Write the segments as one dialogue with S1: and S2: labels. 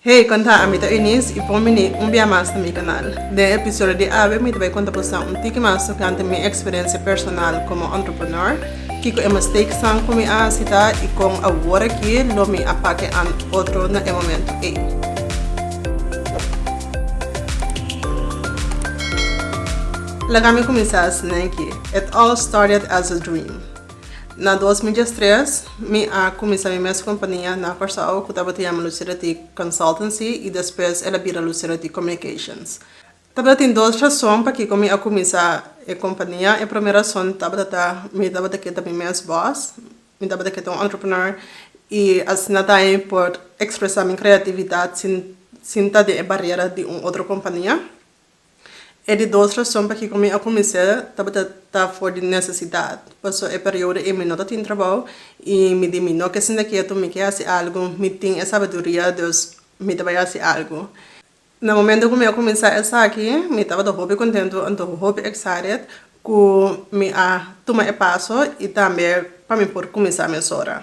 S1: Hey, konta a mi ta Eunice y pon bini un bia mas na mi canal. Den e episodio di awe mi ta bay konta bosa un tiki mas tocante mi experiencia personal como entrepreneur, kico e mistakesnan cu mi a haci ta y con awor aki lo mi a pake an otro na e momento ey. Laga mi cuminsa asina aki. It all started as a dream. Na dos mi dies tres mi a cuminsa mi mes compania na Curaçao cu tabata yama Lucidity Consultancy y despues el a bira Lucidity Communications. Tabata tin dos rason pakico mi a cuminsa e compania. E primer rason tabata ta mi tabata kier ta mi mes boss, mi tabata kier ta un entrepreneur y asina ta mi por expresa mi creatividad sin ta den e barrera di un otro compania. E di dos rason pakiko mi a kuminsá tabata ta for di nesesidat, paso e periodo ei mi no ta tin trabou i mi di mi no ke sinta ketu, mi ke hasi algu, mi tin e sabiduria, dus mi ta bai hasi algu. Na momento ku mi a kuminsá esaki mi tabata hopi kontentu, antoho hopi excited ku mi a tuma e paso i tambe pa mi por kuminsá mesora.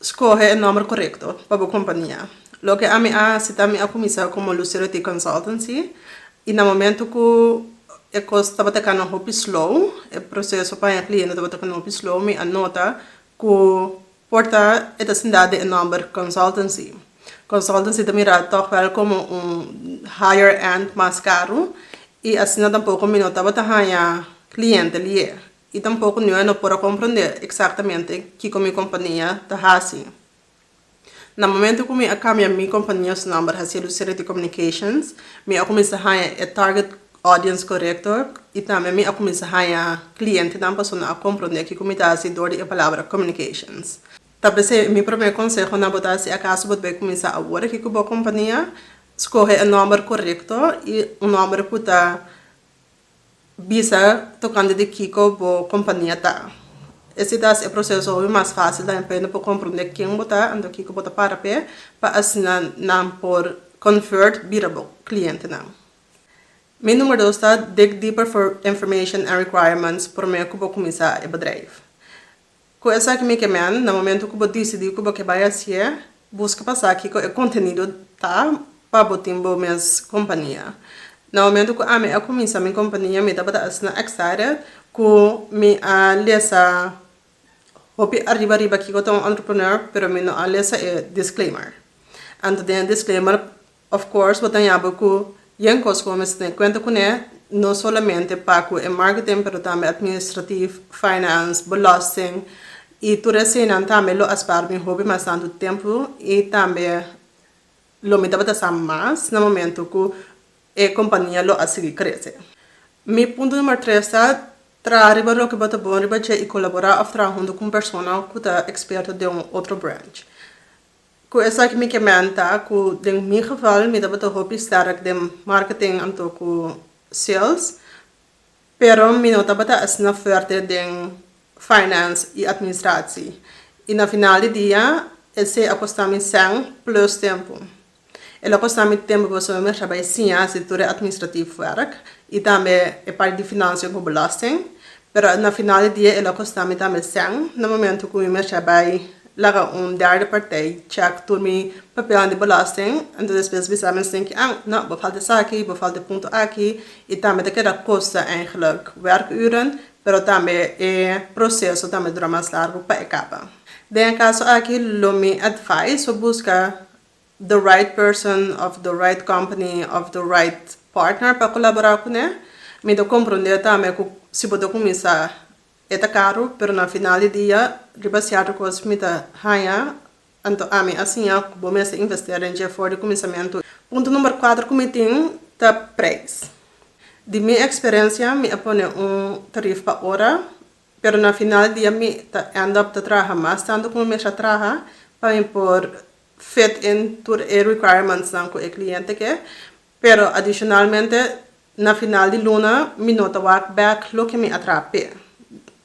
S1: Scoge e nomber corecto pa bo compania. Loke ami a haci ta mi a cuminsa como Lucero T. Consultancy y na momento cu e cos tabata cana hopi slow, e proceso pa haña cliente tabata cana hopi slow, mi a nota cu por ta e ta sinda den e nomber Consultancy. Consultancy ta mira toch wel como un higher end mas caro y asina tampoco mi no tabata haña cliente lier. I tampoco nue no por a comprende exactamente kico mi compania ta haci. Na momento cu mi a cambia mi compania su nomber haci'e Lucidity Communications, mi a cuminsa haña e target audience corecto i tambe mi a cuminsa haña clientenan pasobra nan a comprende kico mi ta haci door di e palabra communications. Ta p'esei mi prome conseho na bo ta si acaso bo bai cuminsa awor aki cu bo compania, scoge e nomber corecto i un nomber cu ta bisa tocante di kico bo compania ta. Esey ta haci e proceso hopi mas facil tambe pa e no por comprende ken bo ta anto kico bo ta para p'e pa asina nan por convert bira bo clientenan. Mi numero dos ta dig deeper for information and requirements prome cu bo cuminsa e bedrijf. Cu esaki mi ke men, na momento cu bo dicidi cu bo ke bay hacié, busca pa sa kico e contenido ta pa bo tin bo mes compania. Na momento cu ami a cuminsa mi compania mi tabata asina excited cu mi a lesa hopi ariba riba kico ta un entrepreneur pero mi no a lesa e disclaimer. Anto den e disclaimer Of course bo ta yaba cu yen cos cu bo mester tene cuenta cune, no solamente pa cu e marketing pero tambe administratief, finance, belasting y tur eseinan tambe lo a spaar bin hopi mas tantu tempo y tambe lo mi tabata sa mas na momento cu e compania lo a sigui crece. Mi punto number tres ta, Traha riba loke bo ta bon riba dje y colabora of traha hunto cu un persona cu ta experto den un otro branch. Ku esaki mi ke menta ku den mi geval mi tabata hopi sterk den marketing anto ku sales, pero mi no tabata asina fuerte den finance i administratie. I na final di dia esei a kosta mi sèn plus tempu. El a kosta mi tempu pasobra mi mester bai siña hasi tur e administratief wèrk i tambe e parti di finansia ku belasting, Pero na final di dia el a kosta mi tambe sèn na momento ku mi mester bai laga un derde partij chèk tur mi papelnan di bòlòsting entonces despues bisa mi sin ke an no bo falta esaki bo falta e punto aki i tambe ta keda kosta eigenlijk werkuren pero tambe e proseso tambe dura mas largu pa e kaba den e kaso aki lo mi advise bo buska the right person of the right company of the right partner pa colabora cune, mi ta comprende tambe cu si bo ta cuminsa e ta caro pero na final di dia riba cierto cos mi ta haya anto ami a siña cu bo mester investera den dje for di cuminsamento. Punto number cuater cu mi tin ta prijs. Di mi experiencia mi a pone un tarif pa ora pero na final di dia mi ta end up ta traha mas tanto cu mi mester a traha pa mi por fit in tur e requirements nan cu e cliente ke, pero adicionalmente na final di luna mi no ta wak back loke mi a traha p'e.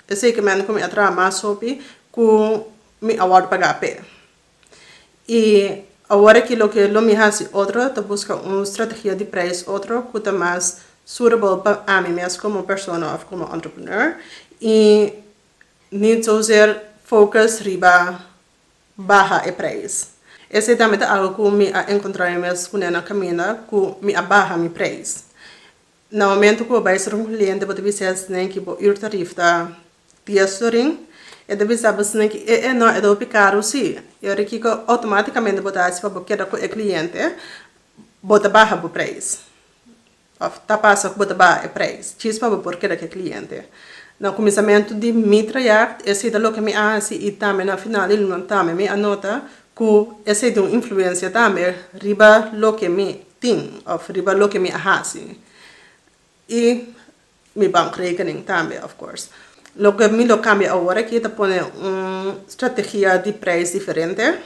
S1: E zekermente cu mi a traha mas hopi cu mi a wordo paga p'e. Y awor aki loke lo mi haci otro ta busca un strategia di prijs otro cu ta mas suitable pa ami mes como persona of como entrepreneur y niet zozeer focus riba baha e preis. Esei tambe ta algu ku mi a enkontrá mi mes kuné na kaminda, ku mi a baha mi preis. Na momentu ku bo bai ser un kliente bo ta bisa esnan ku bo uurtarif ta dies florin, e ta bisa bo esnan ku e'e nò e ta hopi karu si. I ora kiko outomátikamente bo ta hasi pa bo keda ku e kliente? Bo ta baha bo preis. Of ta pasa ku bo ta baha e preis djis pa bo por keda ku e kliente. Na kuminsamentu di mi trayèkt esei ta loke mi a hasi i tambe na final di luna tambe mi a nota ku esei tin un influensia tambe riba loke mi tin òf riba loke mi a hasi. I Mi bankrekening tambe of course. Loke mi lo kambia awor aki ta pone un strategia di prijs diferente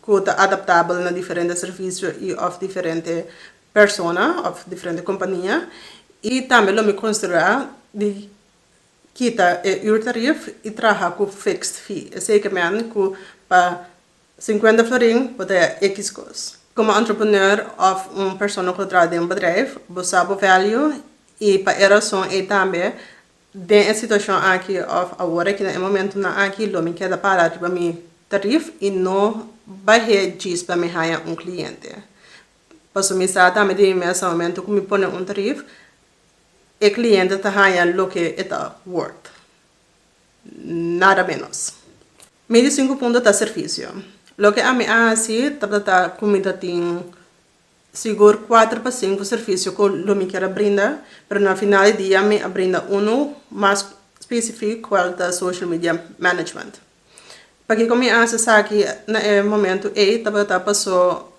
S1: ku ta adaptabel na diferente servisio i òf diferente persona òf diferente kompania i tambe lo mi konsiderá di kita e uurtarief i traha ku fixed fee esei ke mi a ku pa Sinkuenta florin bo ta ya X kos. Komo entrepreneur òf un persona ku ta traha den un bedrijf, bo sa bo value i pa e rason ei tambe den e situashon aki òf awor aki na e momentunan aki lo mi keda para riba mi tarif i no bah'é djis pa mi haña un kliente. Paso mi sa tambe di mi mes sa momento ku mi pone un tarif e kliente ta haña loke e ta wòrd, nada ménos. Mi di sinku punto ta servisio. Loke ami a hasi tabata ta ku mi ta tin sigur kuater pa sinku servisio ku lo mi kier a brinda, pero na final di dia mi a brinda unu mas spesifik kual ta social media management. Pakiko mi a hasi esaki na e momentu ei tabata ta paso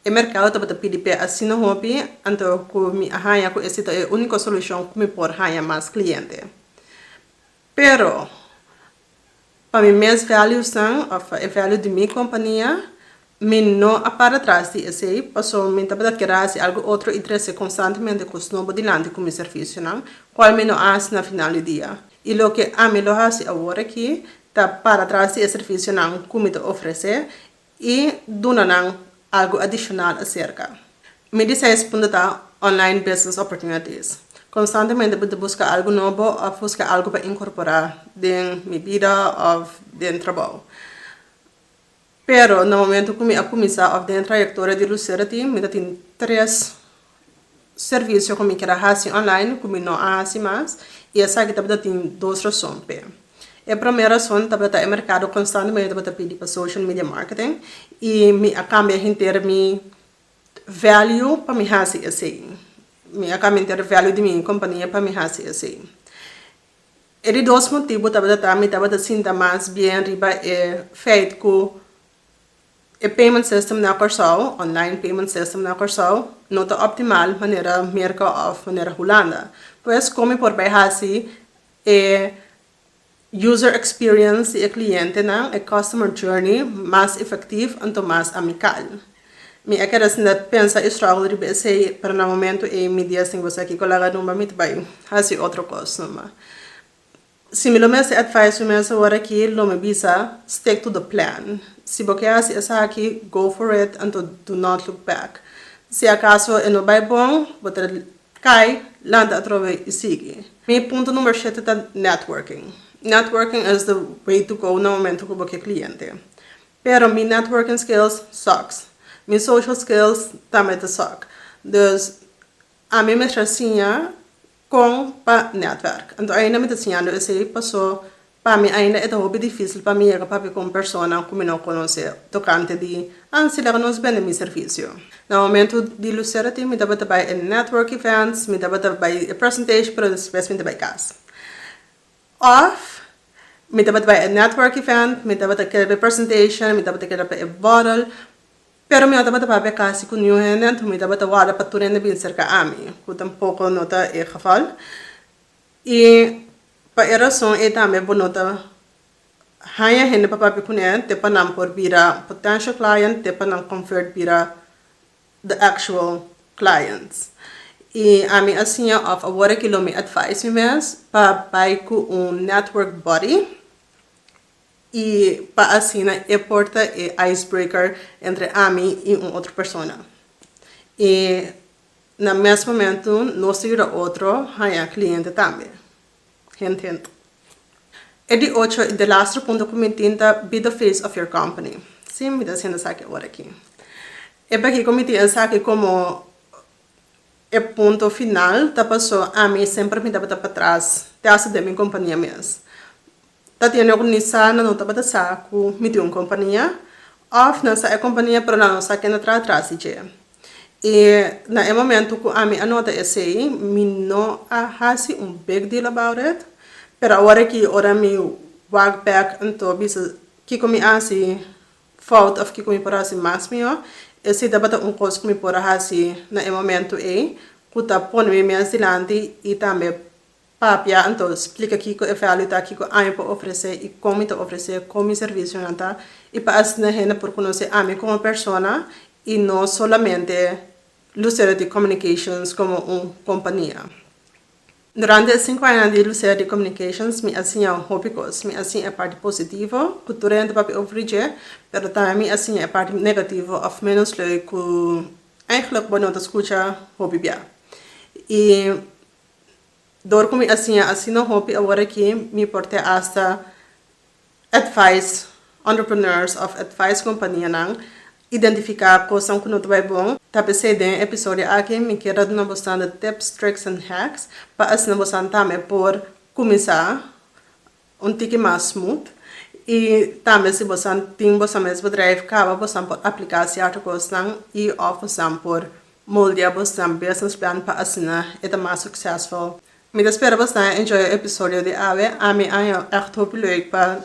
S1: e merkado tabata pidi p'e asina hopi, anto ku mi a haña ku ese ta e úniko solushon ku mi por haña mas kliente. Pero, pa mi mes valuesnan of e value di mi kompania, mi no a para tras di esei, paso mi tabata kier a hasi algu otro i trese konstantemente kos nobo dilanti ku mi servisionan, kual mi no a hasi na final di dia. I loke ami lo hasi awor aki ta para tras di e servisionan ku mi ta ofresé I duna nan algu adishonal aserka mi di seis punto ta Online Business Opportunities. Konstantemente bo ta buska algu nobo òf buska algu pa inkorporá den mi bida òf den trabou. Pero na momentu ku mi a kuminsá òf den e trayektoria di Lucera tin mi ta tin tres. servisio ku mi keda hasi online ku mi no a hasi mas i esaki tabata tin dos rason p'e. E promé rason tabata ta e merkado konstantemente tabata pidi pa social media marketing i mi a kambia henter mi value pa mi hasi esei. Mi a kambia henter value di mi kompania pa mi hasi esei. E di dos motibu tabata ta mi tabata sinta mas bien riba e feit ku E payment system na Kòrsou, online payment system na Kòrsou, no ta optimal manera Merka òf manera Hulanda. Pues komi por bai hasi e user experience di e klientenan, e customer journey, mas efektiv anto mas amikal? Mi a keda sinta pensa e struggle riba esei, pero na momentu ei mi dies tin ku esaki ku laga rumba mi ta bai hasi otro kos numa. Si mi lo mester advice mi mester word aki lo mi bisa stick to the plan si bo ke hasi esaki go for it anto do not look back si acaso e no bay bon bo ta cay lanta atrobe y sigui mi punto number shete ta networking networking is the way to go na momento cu bo ke cliente pero mi networking skills sucks mi social skills tambe ta suck dus ami mester siña Con pa netwerk. Anto ainda mi ta siñando esei paso pa mi ainda e ta hopi dificil pa mi yega papia con personanan cu mi no conoce tocante di ancila cu nos bende mi servicio. Na momento di Lucera tin mi tabata bay e network events, mi tabata bay e presentation pero despues mi ta bay cas. Of mi tabata bay e network event, mi tabata keda pa e presentation, mi tabata keda pa e borrel. Pero mi no tabata papia casi cu niun hende, anto mi tabata warda pa tur hende bin cerca ami, cu tampoco no ta e geval. Y pa e razon ey tambe bo no ta haya hende pa papia cu nan te pa nan por bira potential client te pa nan convert bira the actual clients. Y ami a siña of awor aki lo mi advise mi mes pa bay cu un network body. I pa asina e por ta e ice breaker entre ami i un otro persona. I na mes momento nos ta yuda otro haña cliente tambe. Hint hint. E di ocho i delastro punto cu mi tin ta be the face of your company. Si, mi ta haciendo esaki awor aki. E pa kico mi tin esaki como e punto final ta paso ami semper mi tabata patras te hasta den mi compania mes. Tatiana ku Nisa nan no tabata sa ku mi tin un kompania òf nan sa e kompania pero nan no sa ken ta traha tras di dje. I na e momentu ku ami a nota esei mi no a hasi un big deal about it pero awor aki ora mi wak bek anto bisa kiko mi a hasi fout òf kiko mi por hasi mas mihó e si tabata un kos ku mi por a hasi na e momentu ei ku ta pone mi mes dilanti i tambe Papia, anto splica kico e value ta, kico ami por ofrece y con mi ta ofrece, con mi servicionan ta, y pa asina hende por conoce ami como persona y no solamente Lucero di Communications como un compania. Durante e cinco añanan di Lucero di Communications mi a siña hopi cos, mi a siña e parti positivo cu tur e hende papia ofri dje, pero tambe mi a siña e parti negativo of menos leu cu eigenlijk bo no ta scucha hopi bia. Y. Dor ku mi a siña asina hopi awor aki mi por tè asta advise entrepreneurs òf advise kompanianan identifiká kosnan ku no ta bai bon. Ta p'esei den e episodio aki mi kier ta duna bosnan de tips, tricks and hacks pa asina bosnan tambe por kuminsá Un tiki mas smooth y tambe si bosan tin bosan mes bedrijf caba bosan por aplica cierto cosnan y of bosan por moldea bosnan business plan pa asina e ta mas succesful. Mi ta spera bosnan a enjoy e episodio di awe. Ami a haya echt hopi leuk pa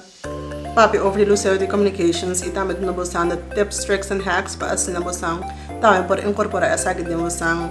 S1: papia over di luseo di communications y tambe duna bosnan de tips, tricks and hacks pa asina bosnan tambe por incorpora esaki den bosnan.